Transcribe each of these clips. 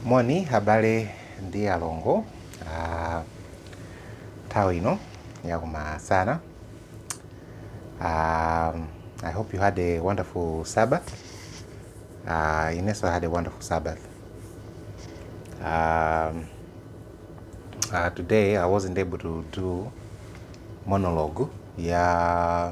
Moni abale ndi alongo ah, nthawi ino yakumasana. Um, I hope you had a wonderful Sabbath. Uh, Ineso had a wonderful Sabbath. Um, uh, today I wasn't able to do monologue ya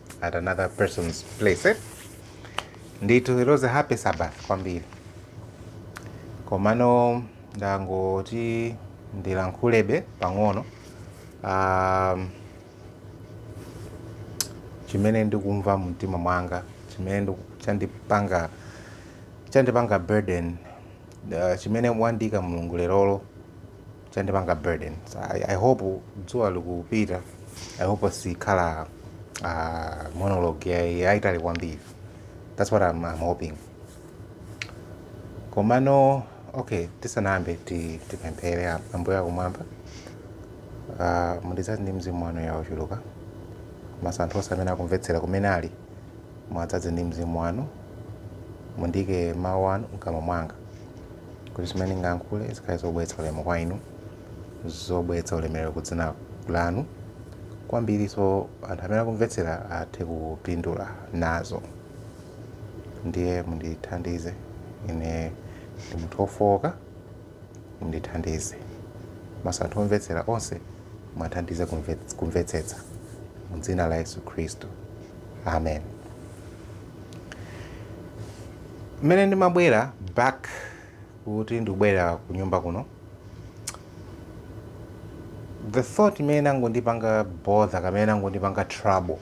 at another person's place eh? ndithu it was a happy sabbath kwambiri komano ndangoti ndilankhulebe pang'ono um, chimene ndikumva mumtima mwanga chimene ndiku- chandipanga chandipanga burden uh, chimene wandiika Mulungu lerolo chandipanga burden I, I hope dzuwa likupita I hope sikhala uh, monologue yaitali kwambiri that's what I'm, I'm hoping komano okay tisanayambe ti- tipemphere a- ambuye akumwamba uh, mundidzaze ndi mzimu wanu ya ochuluka komanso anthu onse amene akumvetsera kumene ali muwadzaze ndi mzimu wanu mundiike mawu anu mkamwa mwanga kuti zimene ndingayankhule zikhale zobweretsa ulemu kwa inu zobweretsa ulemerero ku dzina lanu kwambirinso anthu amene akumvetsera athe kupindula nazo ndiye mundithandize ine ndi munthu wofowoka mundithandize komanso anthu omvetsera onse muwathandize kumve- kumvetsetsa mu dzina la yesu khristu amen Mmene ndimabwera back kuti ndikubwera ku nyumba kuno, the thought imene inangondipanga bother kamene inangondipanga trouble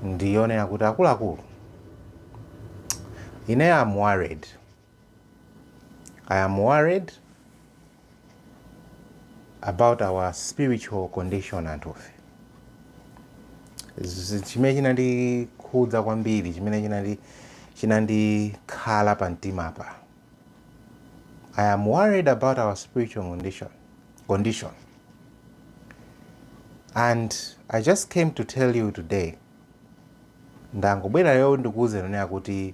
ndiyonena kuti akuluakulu, ine am worried I am worried about our spiritual condition anthufe Z- chimene chinandikhudza kwambiri chimene chinandi chinandikhala pa mtimapa I am worried about our spiritual condition condition and i just came to tell you today ndangobwera lero ndikuwuzeni kuti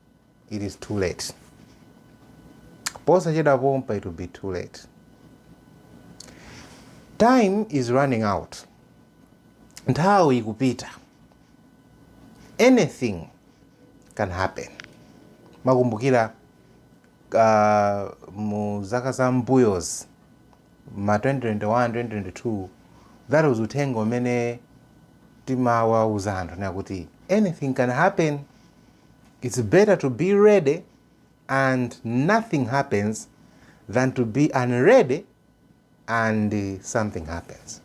It is too late. Posachedwa pompa it will be too late. Time is running out. Nthawi ikupita. Anything can happen. Ndimakumbukira uh, mu zaka za mbuyozi ma 2021 2022 that was uthenga umene timawauza anthu ndi kuti anything can happen It's better to be ready and nothing happens than to be unready and something happens.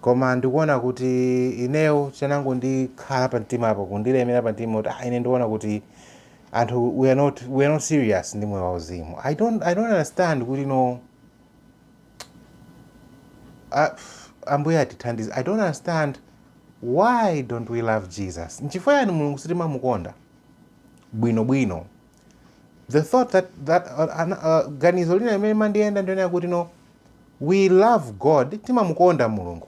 Koma ndikuona kuti ineyo chinangondikhala pa mtimapo kundilemera pa mtima kuti ah, ine ndikuona kuti anthu we are not, we are not serious ndi moyo wauzimu. I don't, I don't understand kuti no Ambuye atithandize. I don't understand why don't we love Jesus? Nchifukwa yani Mulungu sitimamukonda bwino bwino? The thought that, that uh, uh, ganizo lina limene limandiyenda ndi lonena kuti no we love God timamukonda Mulungu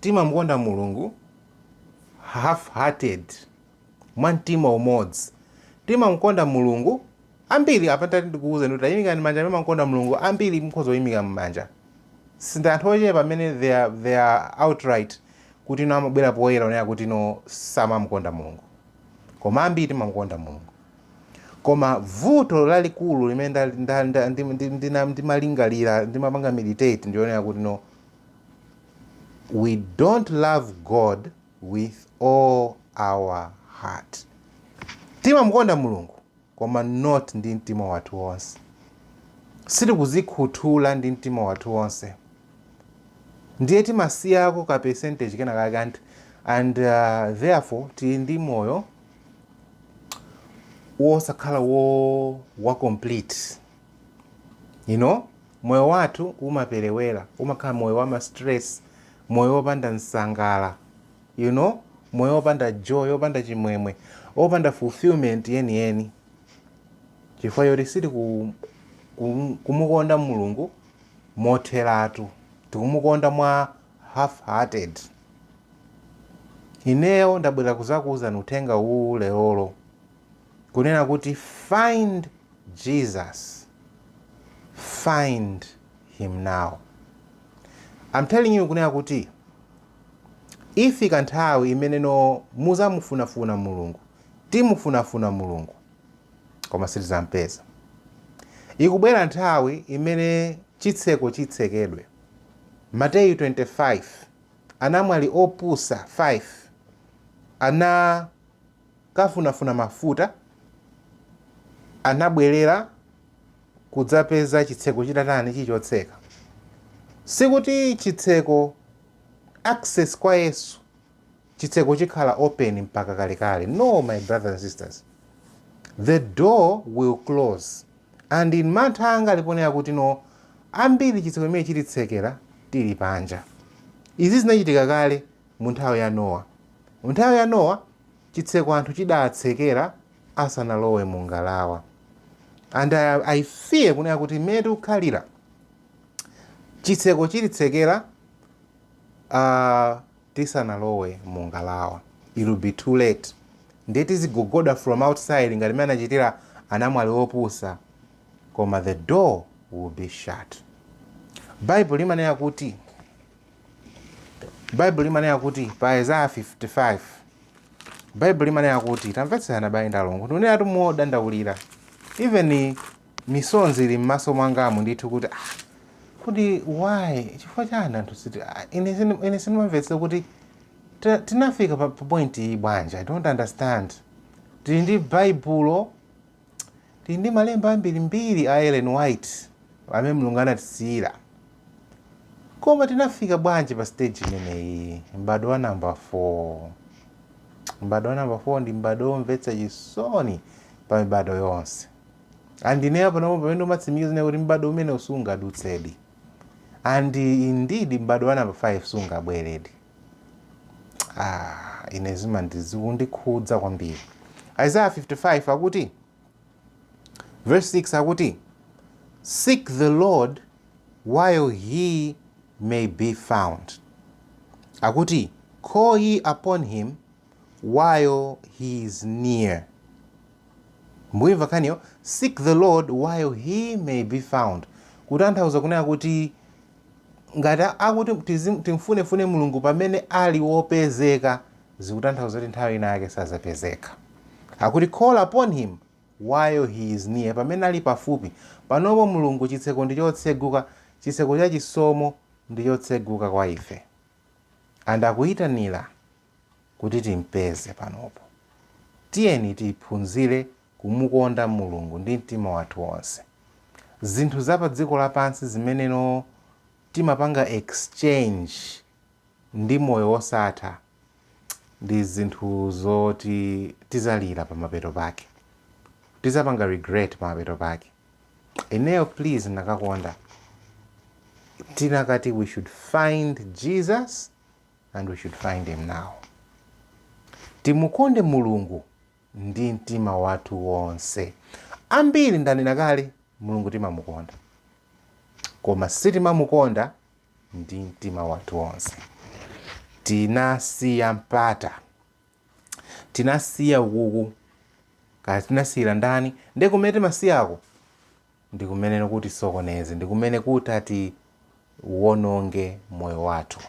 Timamukonda Mulungu half hearted, mwa mtima umodzi. Timamukonda Mulungu ambiri apa ntati ndikuuzeni tayimikani manja amene mamukonda Mulungu ambiri mukhoza kuyimika manja. Si ndi anthu ochepa amene they are, they are outright kuti no amabwera poyera kunena kuti no samamukonda Mulungu. Koma ambiri timamukonda Mulungu. Koma vuto lalikulu limene ndimalingalira ndimapanga meditate ndi lonena kuti no We don't love God with all our heart. Timamukonda Mulungu koma not ndi mtima wathu wonse. Sitikuzikhuthula ndi mtima wathu wonse. Ndiye timasiyako ka percentage kena kake and, and uh, therefore tili ndi moyo wosakhala wa complete. You know? Moyo wathu umaperewera, umakhala moyo wama stress, moyo opanda msangala, you know, moyo opanda joy, opanda chimwemwe, opanda fulfillment yeni yeni chifukwa choti sitiku kumukonda Mulungu motheratu, tikumukonda mwa half hearted. Ineyo ndabwera kuzakuuzani uthenga uwu lelolo Kunena kuti find Jesus, find him now. I'm telling you kunena kuti ifika nthawi imene no muzamufunafuna Mulungu, timufunafuna Mulungu koma sitizampeza. Ikubwera nthawi imene chitseko chitsekedwe. Mateyu 25 anamwali opusa 5 ana kukafunafuna mafuta, anabwerera kudzapeza chitseko chitatani? Chili chotseka. Sikuti chitseko, access kwa Yesu, chitseko chikhala open mpaka kalekale. No, my brothers and sisters. The door will close. And in mantha anga ali ponena kuti no, ambiri chitseko chimene chititsekera tili panja. Izi zinachitika kale Mu nthawi ya Nowa. Mu nthawi ya Nowa, chitseko anthu chidaatsekera asanalowe mu ngalawa. And I, I fear kunena kuti mmene tikukhalira chitseko chititsekera uh, tisanalowe mu ngalawa it will be too late ndiye tizigogoda from outside ngati mmene anachitira anamwali opusa koma the door will be shut bible limanena kuti baibulo limanena kuti pa isaya 55 baibulo limanena kuti tamvetserani abale ndi alongo ndikunenatu modandaulira even misonzi ili m'maso mwangamu ndithu kuti ah, kodi why chifukwa chani anthu siti ah, ine sini- ine sindimamvetsa kuti tina- tinafika pa pa point iyi bwanji i don't understand tili ndi baibulo Tili ndi malemba ambirimbiri a Ellen White amene Mulungu anatisiyira. Koma tinafika bwanji pa stage imeneyi? M'bado wa namba 4. M'bado wa namba 4 ndi m'bado womvetsa chisoni pa mibado yonse. And ineyo panopo pamene ndikumatsimikiza kunena kuti m'bado umenewu sungadutsedi. And indeed m'bado wa namba 5 sungabweredi. Ah, ine zimandi- zikundikhudza kwambiri isaiah 55 akuti verse 6 akuti seek the lord while he may be found akuti call ye upon him while he is near mukuyimva nkhaniyo seek the lord while he may be found kutanthauza kunena kuti Ngati akuti tizim, timfunefune Mulungu pamene ali wopezeka zikutanthauza kuti nthawi ina yake sazapezeka. Akuti call upon him while he is near pamene ali pafupi. Panopo Mulungu chitseko ndi chotseguka, chitseko cha chisomo ndi chotseguka kwa ife. And akuyitanila kuti timpeze panopo. Tiyeni tiphunzire kumukonda Mulungu ndi mtima wathu wonse. Zinthu za pa dziko lapansi zimenezo timapanga exchange ndi moyo wosatha ndi zinthu zoti tizalira pamapeto pake. Tizapanga regret pamapeto pake. Ineyo please nakakonda tinakati we should find Jesus and we should find him now. Timukonde Mulungu ndi mtima wathu wonse. Ambiri ndanena kale, Mulungu timamukonda, koma sitimamukonda ndi mtima wathu wonse. Tinasiya mpata, tinasiya ukuku, kaya tinasiyira ndani, ndi kumene timasiyako ndi kumene kutisokoneze, ndi kumene kutatiwononge moyo wathu.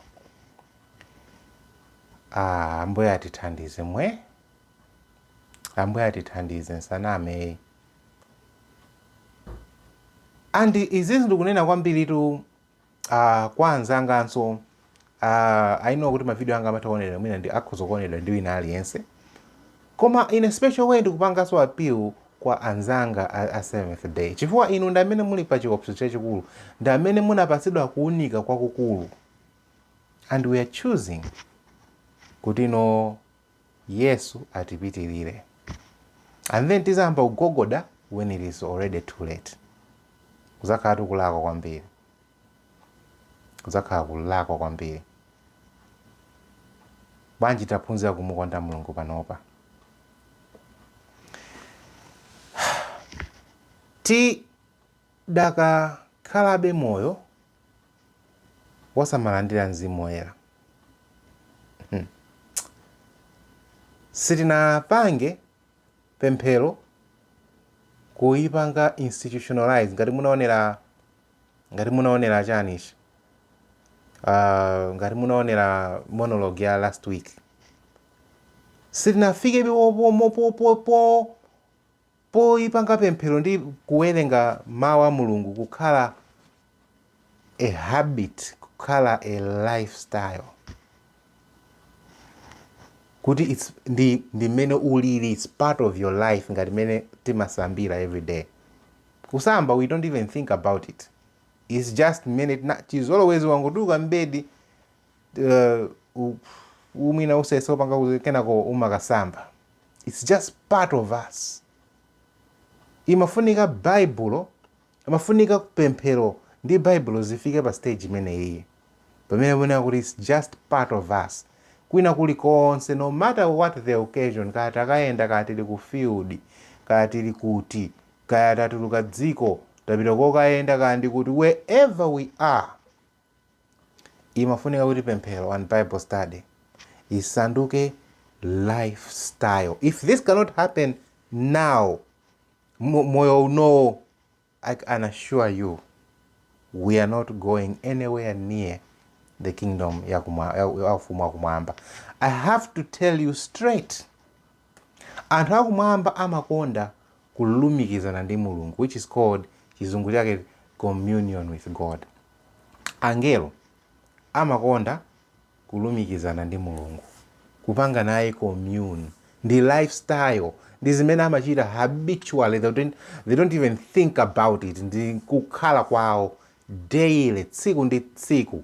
Ah, Ambuye atithandize mwe. Ambuye atithandize nsaname and izizi ndikunena kwambiritu uh, kwa anzanganso uh, I know kuti mavideo anga amatha kuonedwa mwina ndi akhoza kuonedwa ndi wina aliyense koma in a special way ndikupanganso appeal kwa anzanga a, a Seventh Day chifukwa inu ndi amene muli pa chiopsezo chachikulu ndi amene munapatsidwa kuunika kwakukulu and we are choosing kuti no Yesu atipitirire and then tizayamba kugogoda when it is already too late. Kuzakhalatu kulakwa kwambiri. Kuzakhala kulakwa kwambiri. Bwanji taphunzira kumukonda Mulungu panopa. Ti Tidakakhalabe moyo wosamalandira Mzimu Woyera. Hmm. Sitinapange pemphero kuipanga institutionalize ngati munaonera ngati munaonera chani ichi uh, ngati munaonera monologue ya last week sitinafikebe pomopo po po Poipanga pemphero ndi kuwerenga Mau a Mulungu kukhala a habit, kukhala a life style, kuti its ndi ndi mmene ulili, its part of your life ngati mmene timasambira everyday. Kusamba we don't even think about it, its just mmene chizolowezi wangotuluka m'bedi uh, mwina usese upanga kuti kenako umakasamba its just part of us imafunika baibulo imafunika pemphero ndi baibulo zifike pa stage imeneyi pamene mwina kuti its just part of us kwina kulikonse no matter what the occasion kaya takayenda kaya tili ku field kaya tili kuti kaya tatuluka dziko tapita kokayenda kaya ndi kuti wherever we are imafunika kuti pemphero and bible study isanduke lifestyle if this cannot happen now mo- moyo unowo i can assure you we are not going anywhere near the kingdom ya kuma- ya- ya ufumu wakumwamba i have to tell you straight anthu akumwamba amakonda kulumikizana ndi Mulungu which is called chizungu chake communion with God. Angelo amakonda kulumikizana ndi Mulungu, kupanga naye commune. Ndi lifestyle, ndi zimene amachita habitually, they don't, they don't even think about it, ndi kukhala kwawo daily, tsiku ndi tsiku,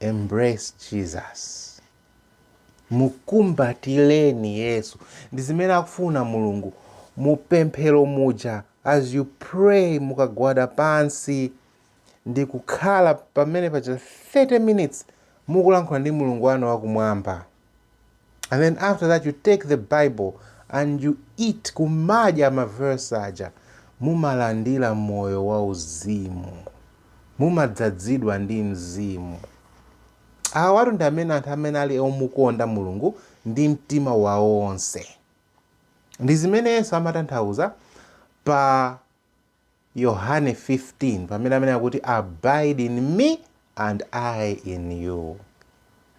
Embrace Jesus. Mukumbatileni Yesu. Ndi zimene akufuna Mulungu. Mu pemphero muja, as you pray, mukagwada pansi ndi kukhala pamene paja 30 minutes mukulankhula ndi Mulungu wanu wa kumwamba. and then after that you take the bible and you eat kumadya maverse aja mumalandira moyo wa uzimu mumadzadzidwa ndi mzimu awatu ndi amene anthu amene ali omukonda mulungu ndi mtima wawo onse ndi zimene yesu amatanthauza pa Yohane 15 pamene amanena kuti abide in me and I in you.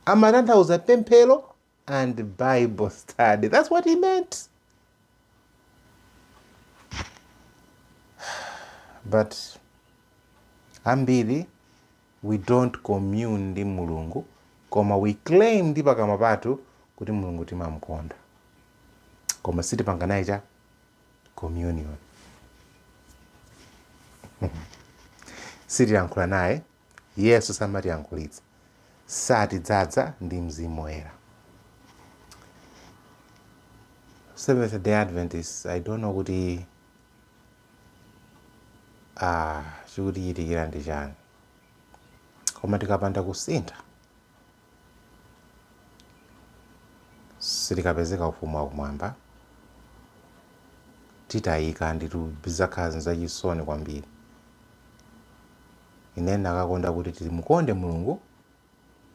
Amatanthauza pemphero and Bible study. That's what he meant. But ambiri we don't commune ndi Mulungu koma we claim ndi pakamwa pathu kuti Mulungu timamkonda koma sitipanga naye cha communion sitiyankhula naye yesu samatiyankhulitsa satidzadza ndi mzimu woyera seventh day adventists i don't know kuti ah, chikutichitikira ndi chani koma tikapanda kusintha sitikapezeka Ufumu wa Kumwamba, titayika, nditu zizakhala zachisoni kwambiri. Ine ndinakakonda kuti timukonde Mulungu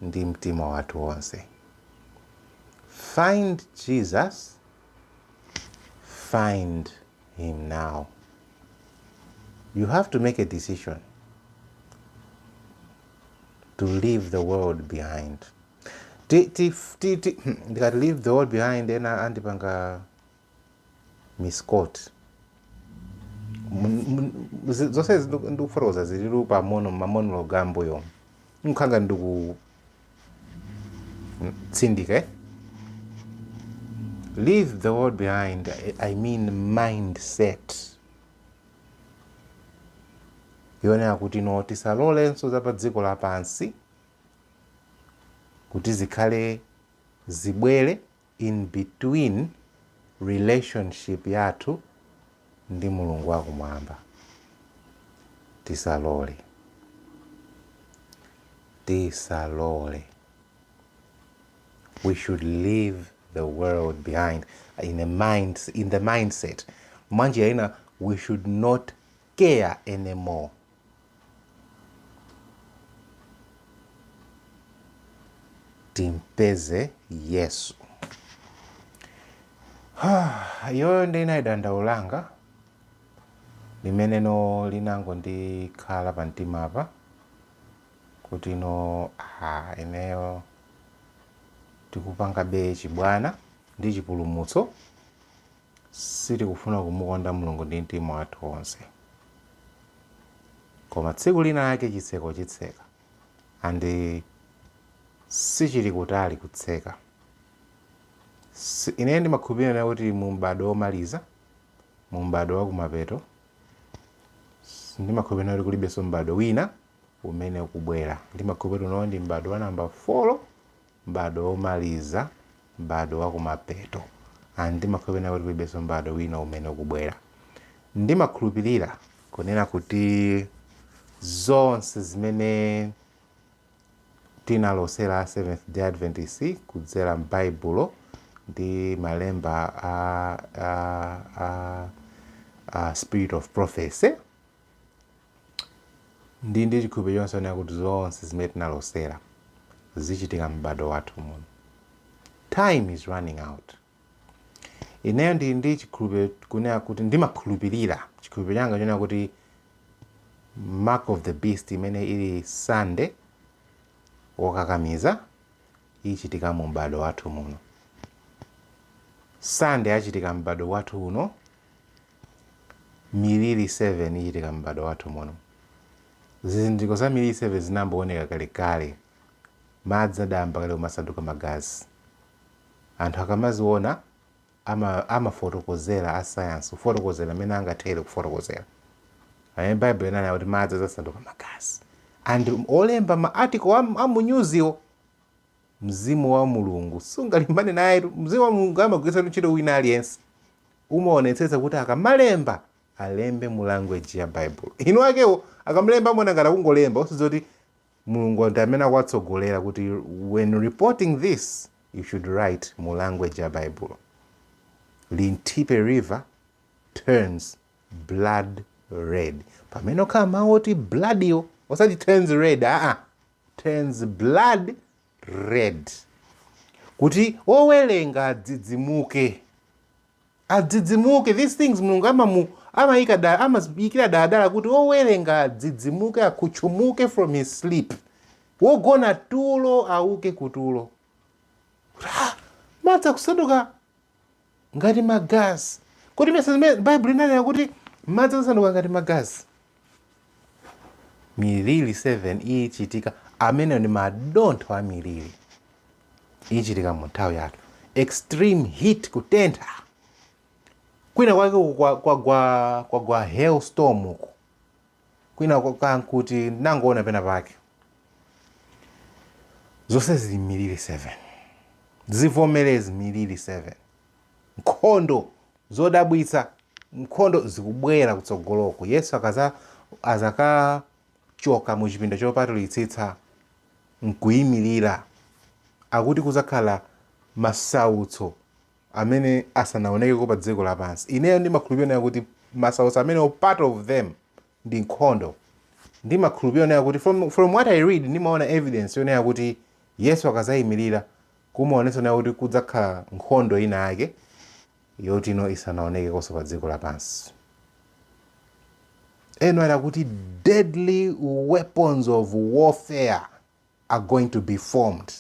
ndi mtima wathu wonse. Find Jesus, find him now. You have to make a decision. to leave the world behind ti, ti, ti, ti, hmm, ndikati leave the world behind ena andipanga misquote zonse ndikufotokoza zililu pa mono mamonologue a m'mbuyo n'kukhala ndikutsindika eh? leave the world behind i mean mindset yonena kuti no, tisalolenso za pa dziko lapansi kuti zikhale zibwere in between relationship yathu ndi mulungu wakumwamba tisalole tisalole we should leave the world behind in the mind in the mindset mwanjira ina we should not care anymore timpeze yesu iyoyo ndi inali dandaulo langa limene no linango ndikhala pa mtima apa kuti no ha ineyo Tikupangabe chibwana ndi chipulumutso, sitikufuna kumukonda Mulungu ndi mtima wathu wonse. Koma tsiku lina lake chitseko chitseka, and sichili kutali kutseka. Si- Ine ndimakhulupirira kunena kuti mu m'badwo womaliza, mu m'badwo wa kumapeto, s- ndimakhulupirira kuti kulibenso m'badwo wina umene ukubwera. Ndimakhulupirira kuti uno ndi m'badwo wa namba 4, m'badwo womaliza, m'badwo wa kumapeto. And ndimakhulupirira kuti kulibenso m'badwo wina umene ukubwera. Ndimakhulupirira kunena kuti zonse zimene tinalosera a Seventh Day Adventist kudzera m'Baibulo ndi malemba a, a, a, a spirit of prophecy ndili ndi chikhulupiriro chonse kunena kuti zonse zimene tinalosera zichitika m'badwo wathu muno time is running out ineyo ndili ndi chikhulupiriro kunena kuti ndimakhulupirira chikhulupiriro changa chonena kuti mark of the beast imene ili Sunday wokakamiza ichitika mu m'badwo wathu muno Sunday achitika m'badwo wathu uno Miliri 7 Ichitika M'badwo Wathu Muno Zizindikiro za miliri 7 zinayamba kuoneka kalekale. Madzi adayamba kale kumasanduka magazi. Anthu akamaziona ama amafotokozera asayansi kufotokozera mmene angathere kufotokozera. Pamene Baibulo linanena kuti madzi adzasanduka magazi. And olemba ma article a amunyuziwo Mzimu wa Mulungu sungalimbane nayetu. Mzimu wa Mulungu amagwiritsatu ntchito wina aliyense. Umaonetsetsa kuti akamalemba alembe mu language ya Baibulo. Inu akewo akamalemba amaona ngati akungolemba osadziwa kuti Mulungu ndi amene akuwatsogolera kuti when reporting this you should write mu language ya Baibulo. Linthipe River turns blood red. Pamene okhala mawu oti blood yo osati turns red aa. turns blood red. Kuti owelenga adzidzimuke. Adzidzimuke. These things mulungu amamu amayika amayikira daladala kuti owelenga adzidzimuke akhutchumuke from his sleep. Wogona tulo auke kutulo. Ra! Madzi kusanduka ngati magazi. Kodi mesa zimene Baibulo linanena kuti madzi adzasanduka ngati magazi? Miliri 7 ichitika, amenewo ndi madontho a miliri ichitika mu nthawi yathu. Extreme heat, kutentha kwina kwake kwagwa kwa, kwa, kwa, kwa hailstorm uku kwina kankuti nangoona pena pake zonse zili m'miliri 7 zivomerezi miliri 7 nkhondo zodabwitsa nkhondo zikubwera kutsogoloko yesu akaza azakachoka mu chipinda chopatulitsitsa nkuyimirira akuti kuzakhala masautso amene asanaonekeko pa dziko lapansi ineyo ndimakhulupirira kuti masautso amenewo part of them ndi nkhondo. Ndimakhulupilira yonena kuti from from what I read ndimaona evidence yonena kuti Yesu akazayimilira kumaonetsa yonena kuti kudzakhala nkhondo ina yake yoti no isanaonekekonso pa dziko lapansi. Ellen ali kuti deadly weapons of warfare are going to be formed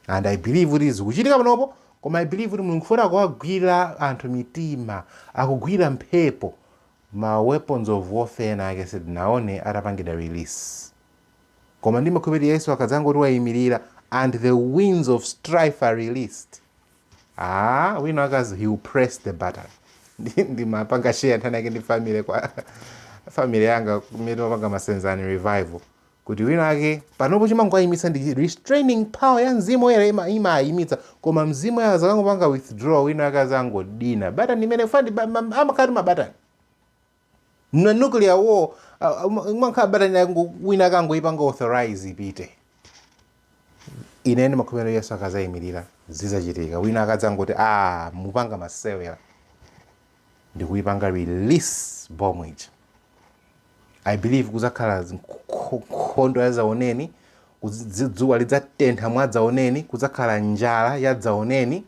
and i believe kuti zikuchitika panopo koma i believe kuti mulungu foti akuwagwira anthu mitima akugwira mphepo ma weapons of warfare ena ake sitinaone atapangidwa release koma ndimakhulupirira yesu akadzangoti wayimirira and the winds of strife are released ah wina akazi he will press the button Ndi- ndimapanga share nthawi ina yake ndi family kwa family yanga kumene timapanga masenzani revival kuti wina ake panopo chimangowayimitsa ndi restraining power ya mzimu woyera ima- imayimitsa koma mzimu woyera akazangopanga withdraw wina ake azangodina batani imene fandi amakhala mabatani a nuclear war ah, um- umakhala batani yangu- wina ake angoyipanga authorize ipite ine ndimakhulupirira yesu akazayimirira zizachitika wina akadzangoti a mukupanga masewera n'kuipanga release bomb ija i believe kuzakhala nkhondo yadzaoneni dzuwa lidzatentha mwadzaoneni kuzakhala njala yadzaoneni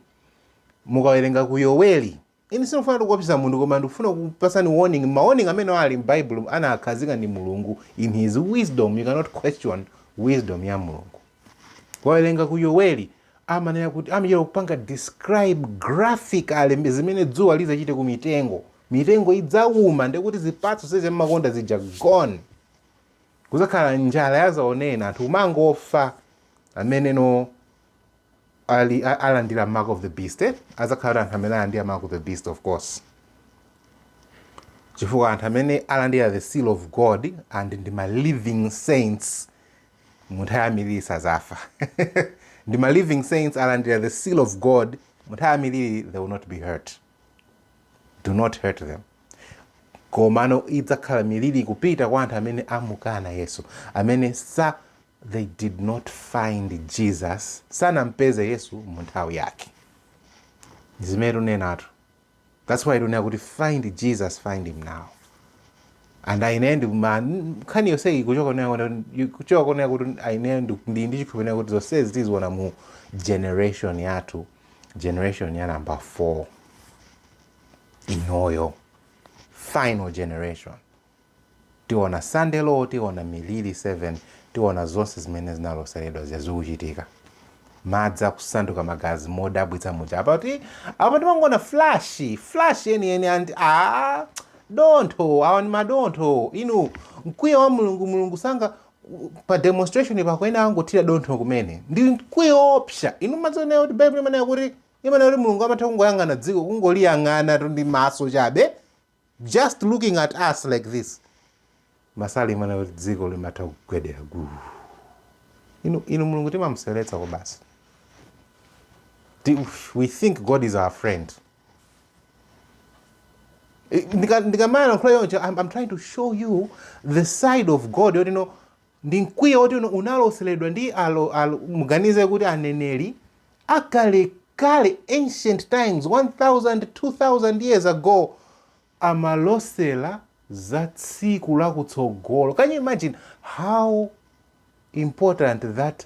mukawerenga ku yoweli ine sindikufuna ndikuopseze munthu koma ndikufuna kukupatsani warning ma warning amene ali m'baibulo anawakhazika ndi mulungu in his wisdom you cannot question wisdom ya mulungu mukawerenga ku yoweli amanena kuti amachita kupanga describe graphically zimene dzuwa lidzachite ku mitengo mitengo idzauma ndekuti zipatso zija mmakonda zija gone kuzakhala njala yazaoneni anthu kumangofa amene no ali a- alandira mark of the beast eh? azakhala anthu amene alandira mark of the beast of course chifukwa anthu amene alandira the seal of god and ndi ma living saints munthawi ya milili sazafa ndi ma living saints alandira the seal of god munthawi ya milili they will not be hurt do not hurt them komano idzakhala milili kupita kwa anthu amene amukana yesu amene sa they did not find jesus sanampeze yesu munthawi yake zimene tikunenatu That's why tikunena kuti find Jesus, find him now. And ine ndi ma nkhani yonse ikuchoka kunena kuti kuchoka kunena kuti ine ndi ndi ndi chikhulupiriro kunena kuti zonse izi tiziona mu generation yathu generation ya number 4 inoyo final generation Tiona Sunday Law, tiona Miliri 7, tiona zonse zimene zinaloseredwa zija zikuchitika. Madzi akusanduka magazi modabwitsa muja. Apa kuti, apa timangoona flash, flash yeniyeni and ah, dontho, awa ndi madontho. Inu, mkwiyo wa Mulungu, Mulungu sanapange demonstration pakuyenera angothira dontho kumene. Ndi mkwiyo woopsa. Inu mudzawonera kuti Baibulo imanena kuti, imanena kuti Mulungu amatha kungoyang'ana dziko, kungoliyang'ana tu ndi maso chabe, Just looking at us like this masalimo amanena kuti dziko limatha kugwedera guu inu, inu mulungu timamuseweretsa kwabasi Ti- we think god is our friend ndikamayankhula chonchi I'm, i'm trying to show you the side of god yoti no Ndi mkwiyo woti un unaloseledwa ndi muganize kuti aneneri akalekale ancient times 1000 2000 years ago amalosela za tsiku lakutsogolo can you imagine how important that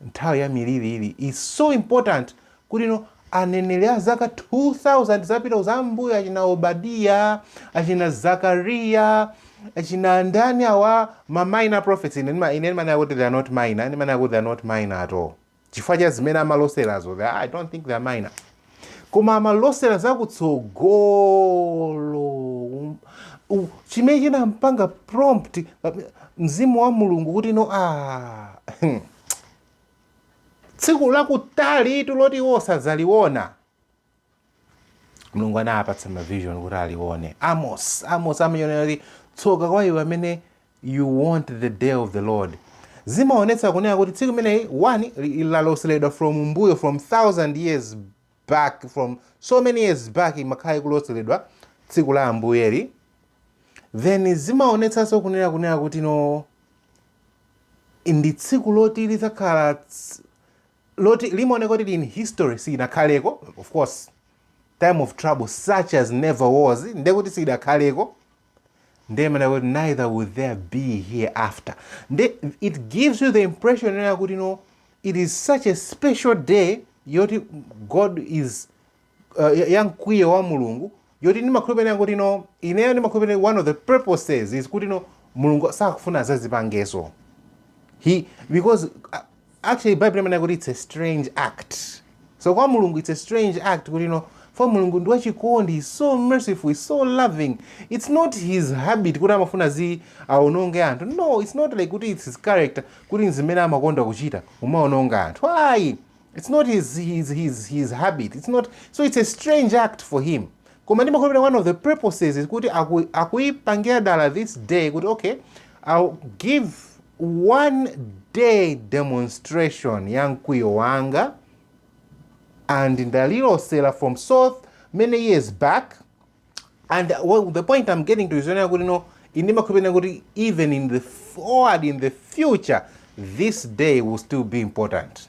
Nthawi ya miliri ili is so important kuti no aneneri a zaka 2000 zapita kuzambuyo achina Obadiya achina Zakariya achina ndani awa ma minor prophets ine ndimanena kuti they are not minor ndimanena kuti they are not minor at all chifukwa cha zimene amaloserazo I don't think they are minor koma amalosera zakutsogolo Um, u- chimene chinampanga prompt pa- mzimu wa mulungu kuti no ah, tsiku lakutalitu loti iwo sadzaliona mulungu anawapatsa mavision kuti alione amos amos amanena kuti tsoka kwa iwe amene you want the day of the lord zimaonetsa kunena kuti tsiku limeneyi one li- laloseledwa from mbuyo from thousand years back from so many years back imakhala ikuloseledwa tsiku la ambuyeli then zimaonetsanso kunena kunena kuti no ndi tsiku loti lidzakhala ts- loti limaoneka kuti in history siyinakhaleko of course time of trouble such as never was ndekuti siyidakhaleko ndiye imanena kuti neither will there be hereafter nde it gives you the impression yonena kuti no it is such a special day yoti god is uh, ya- ya mkwiyo wa mulungu yoti ndimakhulupirira kuti no ineyo ndimakhulupirira one of the purposes is kuti no mulungu sakufuna azazipangenso because uh, actually bible imanena kuti its a strange act so kwa mulungu its a strange act kuti no for mulungu ndi wachikondi he's so merciful he's so loving its not his habit kuti amafuna zi aononge anthu no its not like kuti its his character kuti nzimene amakonda kuchita kumaononga anthu ayi its not his, his, his, his habit its not so its a strange act for him Koma ndimakhulupirira one of the purposes is kuti aku, akuipangira dala this day kuti okay I'll give one day demonstration ya mkwiyo wanga and ndalilosera from so many years back and well, the point I'm getting to is yonena kuti no ndimakhulupirira kuti even in the forward in the future this day will still be important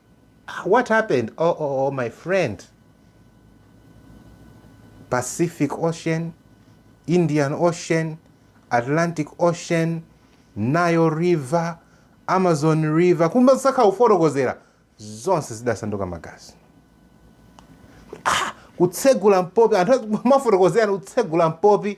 what happened OOO my friend Pacific ocean, Indian ocean, Atlantic ocean, Nile river, Amazon river kumbali sakha kufotokozera zonse zidasanduka magazi ah, kutsegula mpopi akumafotokozerana kutsegula mpopi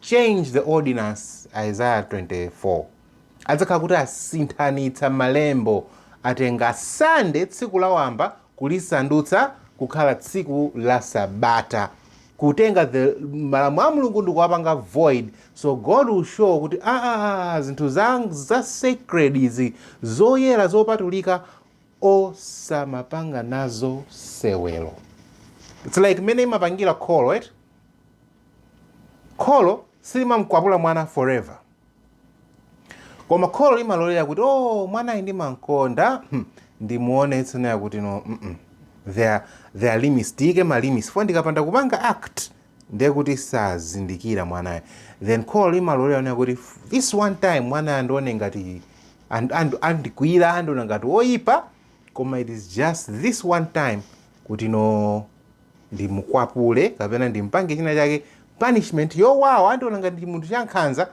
change the ordinance, Isaiah 24, adzakhala kuti asinthanitsa malembo, atenga Sunday, tsiku lawamba, kulisandutsa kukhala tsiku la Sabata, kutenga the malamulo a Mulungu ndikuwapanga void. So God will show kuti ah, ah, ah, ah zinthu za, za sacred izi zoyera zopatulika osamapanga nazo sewelo. It's like mmene limapangira kholo eti Kholo silimamkwapula mwana forever. Koma kholo limalolera kuti oh mwanayu ndimamkonda hmm, ndimuonetse naye kuti no mm -mm. There, there are limits tiyike ma limits fo ndikapanda kupanga act ndiye kuti sazindikira mwanayo then kholo limalolera naye kuti this one time mwanayo andione ngati and- and- andikwira andiona ngati woyipa koma it is just this one time kuti no ndimukwapule kapena ndimpange china chake punishment yowawa andiona ngati ndi munthu chankhanza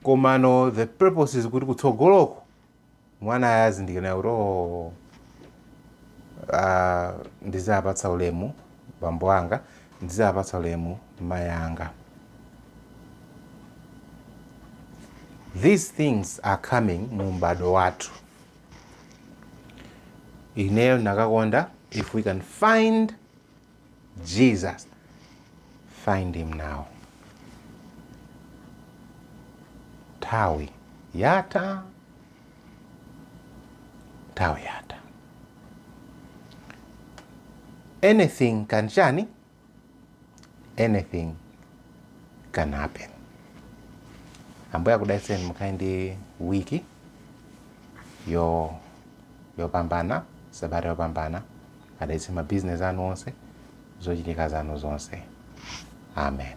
komano the purpose is kuti kutsogoloko mwanayu azindikira kuti oh, ah, ndizapatsa ulemu bambo anga ndizapatsa ulemu mayi anga these things are coming mu m'bado wathu ineyo nakakonda if we can find jesus find him now nthawi yatha nthawi yatha anything can chani anything can happen ambuye akudalitseni mukhale ndi wiki yo- yopambana sabata yopambana adalitse mabizinesi anu onse zochitika zanu zonse amen